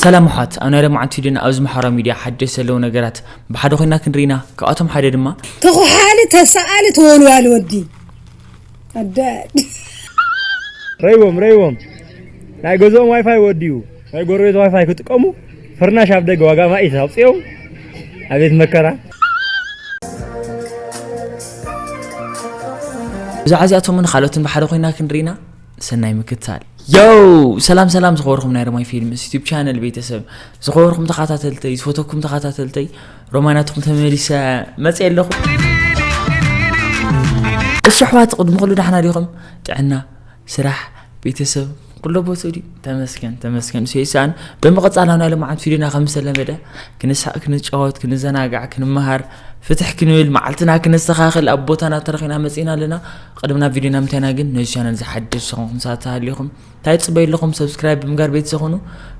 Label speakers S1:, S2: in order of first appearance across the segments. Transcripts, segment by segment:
S1: ሰላም ኣሕዋት ኣብ ናይ ለማዓንቲ ቪድዮና ኣብዚ ማሕበራዊ ሚድያ ሓደሽቲ ዘለዉ ነገራት ብሓደ ኮይና ክንርኢ ኢና ካብኣቶም ሓደ ድማ ተኹሓሊ
S2: ተሳኣሊ ተወልዋሊ ወዲ ኣዳድ
S3: ረይዎም ረይዎም ናይ ገዝኦም ዋይፋይ ወዲኡ ናይ ጎረቤት ዋይፋይ ክጥቀሙ ፍርናሽ ኣብ ደገ ዋጋ ማኢት ኣውፅኦም ኣቤት መከራ
S1: ብዛዕባ እዚኣቶምን ካልኦትን ብሓደ ኮይና ክንርኢ ኢና ሰናይ ምክትታል ዮው ሰላም ሰላም ዝኸበርኩም ናይ ሮማይ ፊልምስ ዩቱብ ቻነል ቤተሰብ ዝኸበርኩም ተኸታተልተይ ዝፈተኩም ተኸታተልተይ ሮማናትኩም ተመሊሰ መፅ ኣለኹ እሺ ኣሕዋት ቅድሚ ኩሉ ዳሕና ዲኹም ጥዕና ስራሕ ቤተሰብ ኩሎ ቦትኡ ድዩ ተመስገን ተመስገን ሰይሳን ብምቕፃል ኣብ ናይ ልምዓት ፊልዮና ከም ዝተለመደ ክንሳእ ክንጫወት ክንዘናጋዕ ክንመሃር ፍትሕ ክንብል መዓልትና ክነስተኻኽል ኣብ ቦታና ተረኺና መፂና ኣለና ቅድምና ቪድዮ ናምታይና ግን ነዚ ቻነል ዝሓደሱ ዝኾንኩም ሰባት ተሃሊኹም እንታይ ፅበዩ ኣለኹም ሰብስክራይብ ብምጋር ቤት ዝኾኑ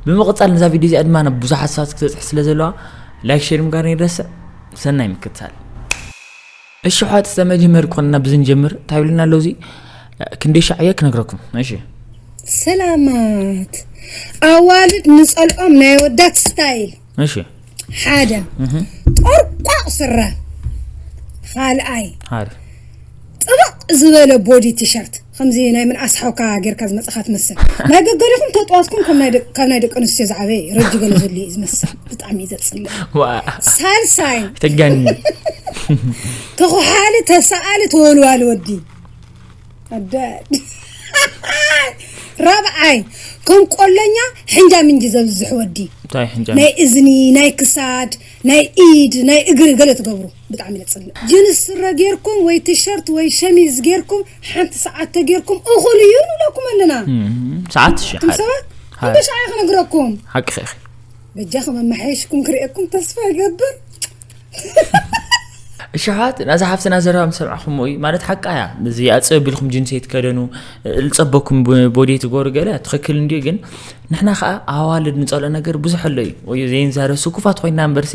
S1: ብምቕፃል ነዛ ቪድዮ እዚኣ ድማ ናብ ብዙሓት ሰባት ክተፅሕ ስለ ዘለዋ ላይክ ሼር ምጋር ይረስዕ ሰናይ ምክትታል እሽሖት ዘመጅመር ኮንና ብዝንጀምር ታይ ብልና ኣሎ እዚ ክንደይ ሻዕ እየ ክነግረኩም እሺ ሰላማት
S2: ኣዋልድ ንጸልኦም ናይ ኣወዳት ስታይል እሺ
S1: ሓደ
S2: ቆርቋቕ ስረ ካልኣይ
S1: ጥብቕ
S2: ዝበለ ቦዲ ቲሸርት ኸምዚ ናይ ምንኣስ ሓውካ ጌርካ ዝመጻኻ ትመስል ናይ ገገሪኹም ተጥዋትኩም ካብ ናይ ደቂ ኣንስትዮ ዝዓበየ እዩ ረጂ ገለ ዘሉ እዩ ዝመስል ብጣዕሚ እዩ ዘጽልእ ሳልሳይ ተጋኒ ተኹሓሊ ተሰኣሊ ተወልዋሊ ወዲ ኣዳድ ራብዓይ ከም ቆለኛ ሕንጃ ምንጂ ዘብዝሕ ወዲ ናይ
S1: እዝኒ ናይ
S2: ክሳድ ናይ ኢድ ናይ እግሪ ገለ ትገብሩ ብጣዕሚ ነፅልእ ጅንስ ስረ ጌርኩም ወይ ቲሸርት ወይ ሸሚዝ ጌርኩም ሓንቲ ሰዓት ተጌርኩም እኹል እዩ ንብለኩም ኣለና ሰዓት ሺ
S1: ሓደ ሰባት እንደ
S2: ሻዕ ክነግረኩም ሓቂ ኺ
S1: በጃኹም
S2: ኣመሓየሽኩም ክርእየኩም ተስፋ ይገብር
S1: እሽሓት ናዛ ሓፍትና ዘረባ ምስ ሰምዕኹም እዩ ማለት ሓቃ እያ እዚ ኣፅብ ኣቢልኩም ጅንሰ ይትከደኑ ዝፀበኩም ቦዲ ትገብሩ ገለ ትኽክል እንድዩ ግን ንሕና ከዓ ኣዋልድ ንፀልኦ ነገር ብዙሕ ኣሎ እዩ ወይ ዘይንዛረብ ስኩፋት ኮይና እምበርሲ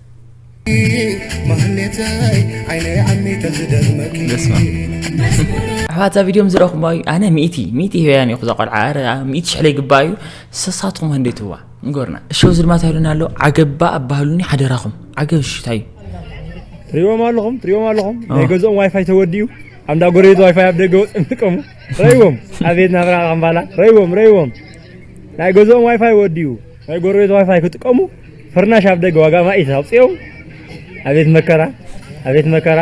S4: ኣሕዋት
S1: እዛ ቪድዮም ዝረኽቦ እዩ ኣነ ሚእቲ ሚእቲ ህበያን እዩኹ ዘቆልዓ ኣረ ሚእቲ ሽሕለ ይግባ እዩ ሰሳትኹም ክንደይ ትዋ ንገሩና እሺ እዚ ድማ ታይሉና ኣሎ ዓገባ ኣባህሉኒ ሓደራኹም ዓገብ እሺ እንታይ ትሪዎም
S3: ኣለኹም ትሪዎም ኣለኹም ናይ ገዝኦም ዋይፋይ ተወዲኡ ኣንዳ ጎረቤት ዋይፋይ ኣብ ደገ ወፅም ጥቀሙ ረይዎም ኣቤት ናብራ ካምባላ ረይዎም ረይዎም ናይ ገዝኦም ዋይፋይ ወዲኡ ናይ ጎረቤት ዋይፋይ ክጥቀሙ ፍርናሽ ኣብ ደገ ዋጋ ማይ ተውፅኦ ኣቤት መከራ ኣቤት መከራ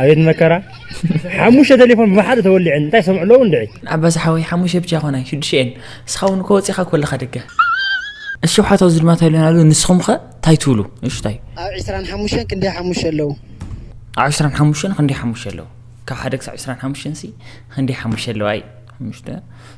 S3: ኣቤት መከራ ሓሙሽተ ቴሌፎን ብሓደ ተወሊዐን እንታይ ሰምዑ ኣለዉ እንድዒ ዓባስ ሓወይ ሓሙሽተ
S1: ብቻ ይኮና ሽዱሽተ እየን ንስኻ እውን እኮ ወፂኻ ኮለኻ ደገ እሺ ሓቶ እዚ ድማ ተልዮና ኣሉ ንስኹም ከ እንታይ ትብሉ እሺ እንታይ ኣብ ዕስራን ሓሙሽተን ክንደይ
S5: ሓሙሽተ ኣለዉ ኣብ ዕስራን
S1: ሓሙሽተን ክንደይ ሓሙሽተ ኣለዉ ካብ ሓደ ክሳብ ዕስራን ሓሙሽተን ሲ ክንደይ ሓሙሽተ ኣለዋ እዩ ሓሙሽተ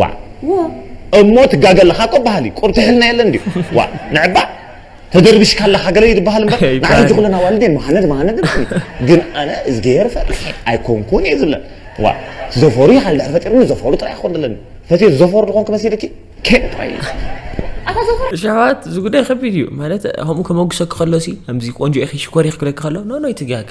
S5: ዋእ እሞ ትጋገ ኣለኻ እኮ በሃሊ ቁርቲሕልና የለን ድዩ ዋእ ንዕባእ ተደርቢሽካ ኣለኻ ገለ እዩ ዝበሃል እምበር ንዓና ሕጂ ኩለን ኣዋልድ እየን መሃነድ መሃነድ ግን ኣነ እዝግሄር ፈሪሐ ኣይኮንኩን እየ ዝብለን ዋእ ዘፈሩ ይሃል ድሕር ፈጢሩኒ ዘፈሩ ጥራይ ክኾን ዘለኒ ፈትየ ዘፈሩ ዝኾንኩ መሲልኪ ኬን ጥራይ
S1: ሸዋት እዚ ጉዳይ ከቢድ እዩ ማለት ከምኡ ከመጉሰኪ ከሎ ከምዚ ቆንጆ ኢኺ ሽኮር ኢኺ ክብለኪ ከሎ ኖኖ ኣይትጋገ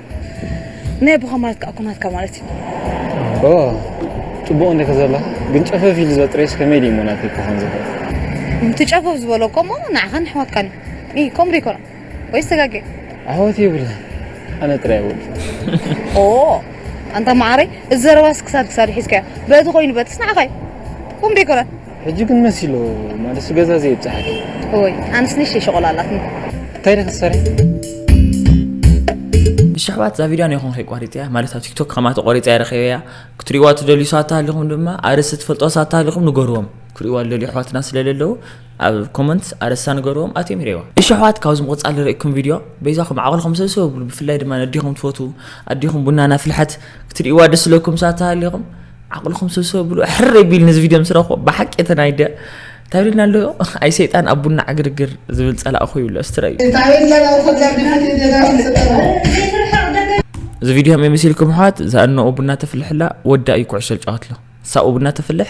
S3: ናይ
S6: ኣቦኻ ማለት ከዓ እኮ ናትካ ማለት እዩ። ኦ
S3: ፅቡቕ እንዲኺ ዘለኺ ግን ጨፈፍ ኢሉ ዘጥረየስ ከመይ ድዩ እሞ ናተይ ክኾን ዝኽእል? እቲ ጨፈፍ
S6: ዝበሎ እኮ እሞ ንዓኻን ኣሕዋትካን እዩ። ኢ ከምኡ ደይኮነ ወይስ ተጋግየ? ኣሕዋት
S3: የብለይን ኣነ ጥራይ እየ ወዲ። ኦ
S6: ኣንታ መዓረይ እዚ ዘረባስ ክሳድ ክሳድ ሒዝካዮ በቲ ኮይኑ በትስ ንዓኻ እዩ። ከምኡ ደይኮነ? ሕጂ ግን መሲሎ
S3: ማለት ገዛ ዘይብጻሕኪ እወይ ኣንስ
S6: ንሽተይ ሸቆላ ኣላትኒ እንታይ ደ ክትሰርሒ
S1: እሺ ኣሕዋት እዛ ቪድዮ ነይኹም ከይቋሪፀያ ማለት ኣብ ቲክቶክ ከማ ተቆሪፀ ኣይረኸበያ ክትሪእዋ ትደልዩ ሰባት ተሃሊኹም ድማ ኣርእስቲ ትፈልጦ ሰባት ተሃሊኹም ንገርዎም ክርእዋ ዝደልዩ ኣሕዋትና ስለዘለዉ ኣብ ኮመንት ኣርእስታ ንገርዎም ኣትዮም ይርእዋ እሺ ኣሕዋት ካብዚ ምቕፃል ዝርእኩም ቪድዮ በይዛኹም ዓቕልኹም ሰብሰብ ብሉ ብፍላይ ድማ ነዲኹም ትፈትዉ ኣዲኹም ቡና ናፍልሐት ክትርእዋ ደስ ዝለኩም ሰባት ተሃሊኹም ዓቕልኹም ሰብሰብ ብሉ ሕረይ ቢል ነዚ ቪድዮ ምስ ረኽቦ ብሓቂ እቲ ናይ ደ እንታይ ብልና ኣሎ ኣይ ሰይጣን ኣብ ቡና ዕግርግር ዝብል ፀላእኹ ይብሎ ስትረዩ እዚ ቪድዮ ከመይ መሲልኩም ኣሕዋት እዛ እነኡ ቡና ተፍልሕላ ወዳ እዩ ኩዕሶ ዝጫወትሎ ሳኡ ቡና ተፍልሕ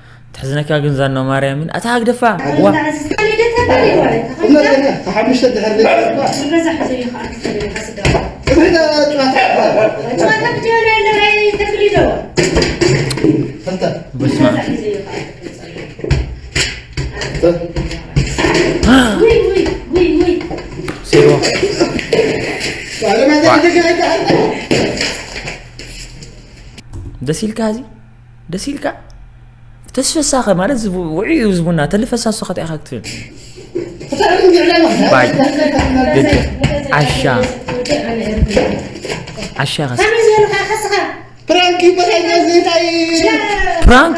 S1: ተሕዝነካ ግን ዛኖ ማርያምን ኣታ ሃግደፋ ዋ
S4: ሓሙሽተ ድሕር
S1: ደስ ኢልካ እዚ ደስ ኢልካ ተስፈሳኸ ማለት ውዕዩ ህዝቡና ተልፈሳሱ ከት ኢኻ ክትብል ባይ ደቂ ዓሻ ዓሻ ከስ
S4: ፕራንክ ይበሃል እዚ እንታይ
S1: ፕራንክ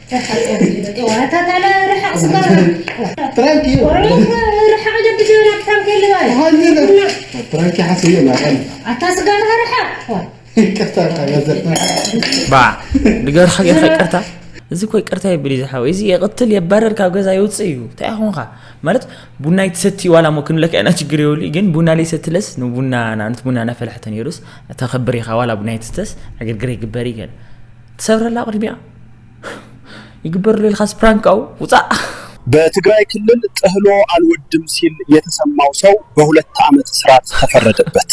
S1: ንገርካ ጌርካ ይቅርታ እዚ እኮ ይቅርታ የብል እዩ ዝሓወይ እዚ የቕትል የባረር ካብ ገዛ ይውፅእ እዩ እንታይ ይኹንካ ማለት ቡና ይትሰቲ ዋላ ሞ ክንብለካ ኢና ችግር የብሉ ግን ቡና ለይሰትለስ ንቡና ንኣብነት ቡና እናፈላሕተ ነይሩስ ተኸብር ኢኻ ዋላ ቡና ይትስተስ ዕግርግር ይግበር እዩ ገለ ትሰብረላ ቅድሚኣ ይግበርሉ ኢልካስ ፕራንክ ኣው ውፃእ በትግራይ
S7: ክልል ጥህሎ ኣልወድም ሲል የተሰማው ሰው በሁለት ዓመት እስራት ተፈረደበት።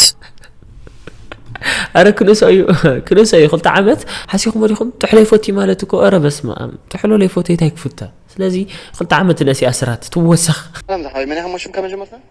S8: ኣረ ክንእሶ እዩ ክንእሶ እዩ ክልተ ዓመት ሓሲኹም ወዲኹም ጥሕሎ ይፈቱ ማለት እኮ ረ በስመ ኣም ጥሕሎ ለይፈቱ የታይ ክፍተ ስለዚ ክልተ ዓመት ነሲ ኣስራት ትወሰኽ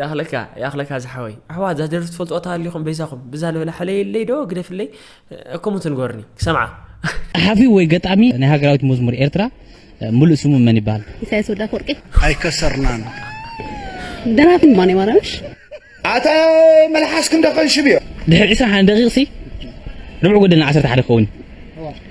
S8: ያኽለካ ያኽለካ ዝሓወይ ኣሕዋት እዛ ደርፊ ትፈልጥዋ ተሃሊኹም በይዛኹም ብዛ ንበላ ሕለየለይ ዶ ግደፍለይ ከምኡ ትንገርኒ ክሰምዓ ጸሓፊ ወይ
S9: ገጣሚ ናይ ሃገራዊት መዝሙር ኤርትራ ሙሉእ ስሙ መን ይበሃል? ኢሳያስ ወዳ ወርቂ
S6: ኣይከሰርናን ደራፊ ድማ ናይ ማርያምሽ ኣታ
S7: መልሓስኩም ዶ ከንሽብዮ ድሕሪ 21
S9: ደቂቕሲ ርብዕ ጎደልና 11 ክኸውን እዩ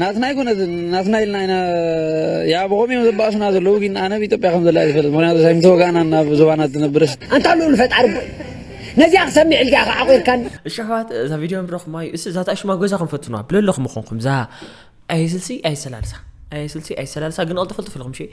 S9: ናትና ኣይኮነትን ናትና ኢልና ኢና ያ ብኸምኡ እዮም ዘባእሱና ዘለዉ ግን ኣነ ኣብ ኢትዮጵያ ከም ዘላ ዝፈልጥ ምክንያቱ ሳይም ተወጋእና ናብ ዞባና ትነብርስ ኣንታ ልኡል ፈጣሪ
S10: ቦይ ነዚኣ ክሰሚዕ ኢልካ ኢኻ ዓቑርካኒ እሺ ኣሕዋት እዛ ቪድዮ
S8: ንረኹማ እዩ እስ ዛታ ሽማ ገዛ ክንፈትኑዋ ብለለኹም ኾንኩም እዛ ኣይስልሲ ኣይሰላልሳ ኣይስልሲ ኣይሰላልሳ ግን ቐልጥፈልጥፍልኹም ሸ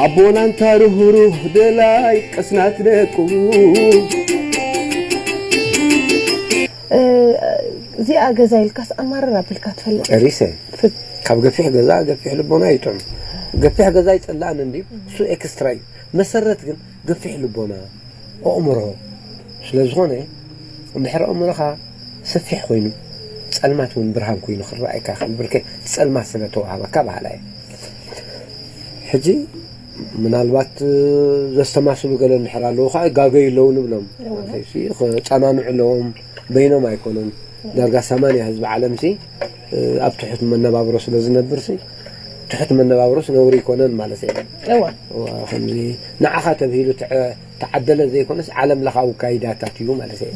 S11: ኣቦና ኣንታ ርህሩህ ደላይ ቅስናት ደቁ።
S6: እዚኣ ገዛ ኢልካስ ኣማርር ኣቢልካ ትፈልጥ ዲኻ? ጨሪሰ
S11: ካብ ገፊሕ ገዛ ገፊሕ ልቦና ይጥዑም ገፊሕ ገዛ ኣይጽላእን እንድዩ እሱ ኤክስትራ እዩ መሰረት ግን ግፊሕ ልቦና፣ ኦእምሮ፣ ስለ ዝኾነ እንድሕር ኦእምሮኻ ሰፊሕ ኮይኑ ጸልማት ውን ብርሃን ኮይኑ ክረኣየካ ይኽእል ብርክ እቲ ጸልማት ስለ ተዋህበካ በሃላይ እየ። ሕጂ ምናልባት ዘስተማስሉ ገለ እንድሕር ኣለዉ ከዓ ይጋገዩ ኣለዉ ንብሎም ክጸናንዑ ኣለዎም በይኖም ኣይኮኑን ዳርጋ ሰማንያ ህዝቢ ዓለምሲ ኣብ ትሑት መነባብሮ ስለ ዝነብርሲ ትሑት መነባብሮስ ነውሪ ኣይኮነን ማለት እየ። እወ እወ ከምዚ ንዓኻ ተብሂሉ ተዓደለ ዘይኮነስ ዓለም ለኻዊ ካይዳታት እዩ ማለት እየ።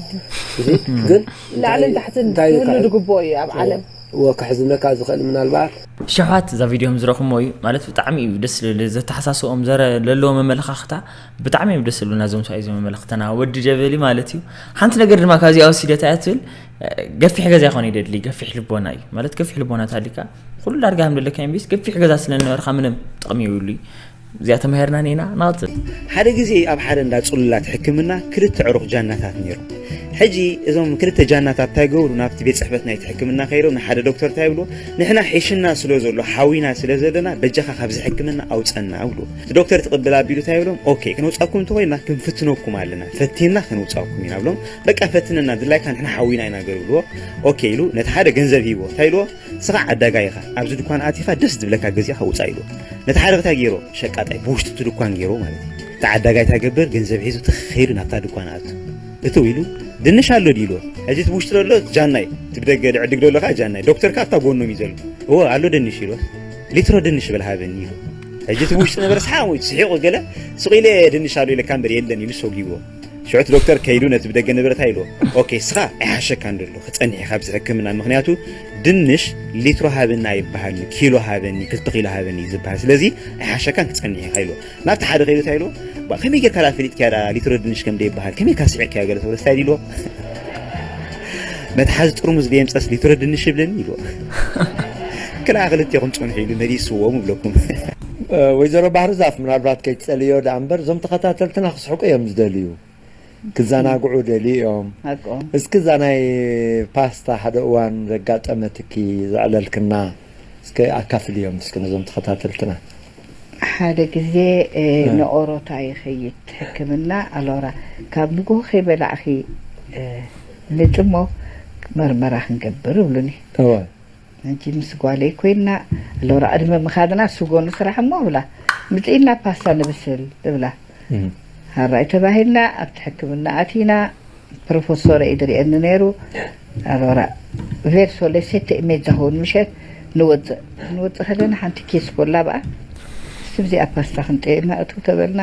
S11: እዚ ግን ላዕልን ታሕትን
S6: ክህሉ ዝግብኦ እዩ ኣብ ዓለም። እወ ከሕዝነካ
S11: ዝኽእል ምናልባት ሸውሃት እዛ ቪድዮ
S1: ዝረኹሞ እዩ ማለት ብጣዕሚ እዩ ደስ ልብል ዘተሓሳስኦም ዘረ ለለዎ መመለኻኽታ ብጣዕሚ እዮም ደስ ልብሉና እዞም ሰብኣይ እዞም መመለኽተና ወዲ ጀበሊ ማለት እዩ ሓንቲ ነገር ድማ ካብዚኣ ወሲደታ እያ ትብል ገፊሕ ገዛ ይኾን ይደድሊ ገፊሕ ልቦና እዩ ማለት ገፊሕ ልቦና ታሊካ ኩሉ ዳርጋ ከም ደለካ ቢስ ገፊሕ ገዛ ስለነበርካ ምንም ጥቕሚ ይብሉ እዚኣ ተማሂርና ኒና ናፅል ሓደ ግዜ ኣብ
S12: ሓደ እንዳ ፅሉላት ሕክምና ክልተ ዕሩኽ ጃናታት ነይሩ ሕጂ እዞም ክልተ ጃናታት እንታይ ገብሩ ናብቲ ቤት ፅሕፈት ናይቲ ሕክምና ከይዶም ንሓደ ዶክተር እንታይ ብሎ ንሕና ሒሽና ስለ ዘሎ ሓዊና ስለ ዘለና በጃኻ ካብዚ ሕክምና ኣውፀና ብሎ ዶክተር ትቕብል ኣቢሉ እንታይ ብሎም ኦኬ ክንውፃኩም እንተኮይና ክንፍትነኩም ኣለና ፈቲና ክንውፃኩም ኢና ብሎም በቃ ፈትነና ድላይካ ንሕና ሓዊና ኢና ገሩ ኢልዎ ኦኬ ኢሉ ነቲ ሓደ ገንዘብ ሂብዎ እንታይ ኢልዎ ንስኻ ዓዳጋይ ኢኻ ኣብዚ ድኳን ኣቲኻ ደስ ዝብለካ ገዚእኻ ውፃእ ኢልዎ ነቲ ሓደ እንታይ ገይሮ ሸቃጣይ ብውሽጢ እቲ ድኳን ገይሮ ማለት እዩ እቲ ዓዳጋይ እንታይ ገብር ገንዘብ ሒዙ ተኸይዱ ናብታ ድኳን ኣቱ እትው ኢሉ ድንሽ ኣሎ ድዩ ኢልዎ ሕዚ እቲ ብውሽጢ ዘሎ ጃናይ እቲ ብደገ ድዕድግ ዘሎ ከዓ ጃናይ ዶክተር ከዓ ኣብታ ጎኖም እዩ ዘሎ እወ ኣሎ ድንሽ ኢልዎ ሊትሮ ድንሽ በል ሃበኒ ኢሉ ሕጂ እቲ ብውሽጢ ነበረ ሰሓቕ ስሒቑ ገለ ስቕ ኢለ ድንሽ ኣሎ ኢለካ እምበር የለን ኢሉ ሰጒዎ ሽዑቲ ዶክተር ከይዱ ነቲ ብደገ ንብረት ኣይሉ ኦኬ ስኻ ኣይሓሸካን ደሎ ክጸኒሕ ኢኻ ኣብዚ ሕክምና ምክንያቱ ድንሽ ሊትሮ ሃበኒ ኣይበሃልኒ ኪሎ ሃበኒ ክልተ ኪሎ ሃበኒ እዩ ዝበሃል ስለዚ ኣይሓሸካን ክጸኒሕ ኢኻ ኢሉ ናብቲ ሓደ ከይዱ እንታይ ኢሉ ከመይ ጌርካ ዳ ፈሊጥካያ ዳ ሊትሮ ድንሽ ከም ደይበሃል ከመይ ካ ስዒርካዮ ገለ ተብሎ ስታይ ኢልዎ መትሓዚ ጥርሙዝ ደየምፀስ ሊትሮ ድንሽ ይብለኒ ኢልዎ ክልኣ ክልቴኹም ጸንሑ ኢሉ መሊስዎም ይብለኩም ወይዘሮ
S11: ባህርዛፍ ምናልባት ከይትጸልይዮ ደኣ እምበር እዞም ተኸታተልትና ክስሕቁ እዮም ዝደልዩ ክዘናግዑ ደልዩ እዮም ሓቆም እስኪ እዛ ናይ ፓስታ ሓደ እዋን ዘጋጠመትኪ ዘዕለልክና እስኪ ኣካፍልዮም እስኪ ነዞም ተኸታተልትና ሓደ
S13: ግዜ እ፣ ንኦሮታ ይኸይድ ሕክምና ኣሎራ ካብ ንግሆ ከይበላዕኺ እ፣ ንጥሞ መርመራ ክንገብር እብሉኒ እወ
S11: ሕጂ ምስ
S13: ጓለይ ኮይና ሎራ ዕድመ ምካድና ስጎ ንስራሕ እሞ እብላ ምጺኢና ፓስታ ንብስል እብላ ሃራይ ተባሂልና ኣብቲ ሕክምና ኣቲና ፕሮፈሶረ እዩ ድሪኤኒ ነይሩ ኣሎራ ቬርሶ ለ ሴተ ኢሜጃ ሆን ምሸት ንወጽእ ክንወጽእ ከለና ሓንቲ ኬስ ኮላ ብኣ ስብዚኣ ፓስታ ክንጠየና እትው ተበልና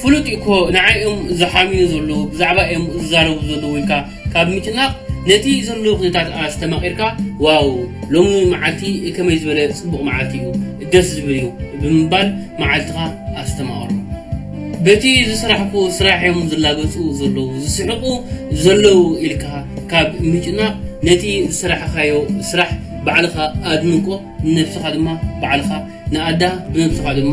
S14: ፍሉጥ እዩ እኮ ንዓይ እዮም ዝሓምዩ ዘለዉ ብዛዕባ እዮም ዝዛረቡ ዘለዉ ኢልካ ካብ ምጭናቕ ነቲ ዘሎ ኩነታት ኣስተማቒርካ ዋው ሎሚ መዓልቲ ከመይ ዝበለ ጽቡቕ መዓልቲ እዩ ደስ ዝብል እዩ ብምባል መዓልትኻ ኣስተማቕሮ በቲ ዝስራሕኩ ስራሕ እዮም ዝላገጹ ዘለዉ ዝስሕቑ ዘለዉ ኢልካ ካብ ምጭናቕ ነቲ ዝስራሕኻዮ ስራሕ ባዕልኻ ኣድንቆ ንነብስኻ ድማ ባዕልኻ ንኣዳ ብነብስኻ ድማ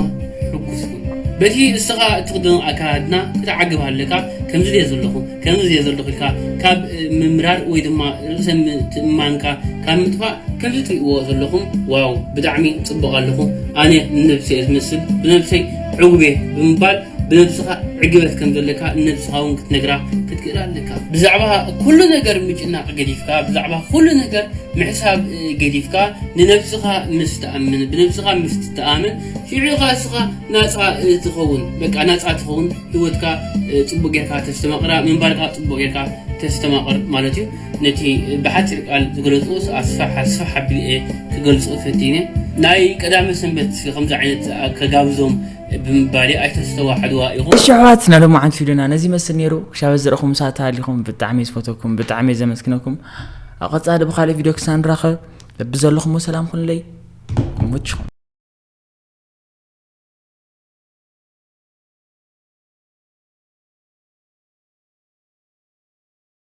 S14: ሕጉስ ኩን በቲ እስኻ እትኽደኖ ኣከዳድና ክትዓግብ ኣለካ ከምዚ ድየ ዘለኹ ከምዚ ድየ ዘለኹ ኢልካ ካብ ምምራር ወይ ድማ ርእሰ ምትእምማንካ ካብ ምጥፋእ ከምዚ ትሪእዎ ዘለኹም ዋው ብጣዕሚ ጽቡቕ ኣለኹ ኣነ ንነብሰ እየ ዝመስል ብነብሰይ ዕጉብ እየ ብምባል ብነብስኻ ዕግበት ከም ዘለካ ንነብስኻ እውን ክትነግራ ክትክእል ኣለካ ብዛዕባ ኩሉ ነገር ምጭናቕ ገዲፍካ ብዛዕባ ኩሉ ነገር ምሕሳብ ገዲፍካ ንነብስኻ ምስ ትኣምን ብነብስኻ ምስ ትተኣምን ሽዑ ኢኻ እስኻ ናጻ ትኸውን በቃ ናጻ ትኸውን ህይወትካ ጽቡቅ ጌርካ ተስተማቅራ ምንባርካ ጽቡቅ ጌርካ ተስተማቅር ማለት እዩ ነቲ ብሓጺር ቃል ዝገለጽኦ ኣስፋሕ ኣስፋሕ ኣቢለ ክገልጾ ፈቲነ ናይ ቀዳመ ሰንበት ከምዚ ዓይነት ከጋብዞም ብምባሌ ኣይተስተዋዕልዋ ኢኹም። እሺ ኣሕዋት ናይ ሎማዓንቲ
S1: ቪድዮና ነዚ ይመስል ነይሩ ክሻብ እዚ ዝረኹም ሰዓት ተሃሊኹም ብጣዕሚ እየ ዝፈተኩም ብጣዕሚ እየ ዘመስግነኩም ኣብ ቀፃሊ ብካልእ ቪድዮ ክሳብ ንራኸብ ልቢ ዘለኹም ሰላም ኩንለይ ይመችኹም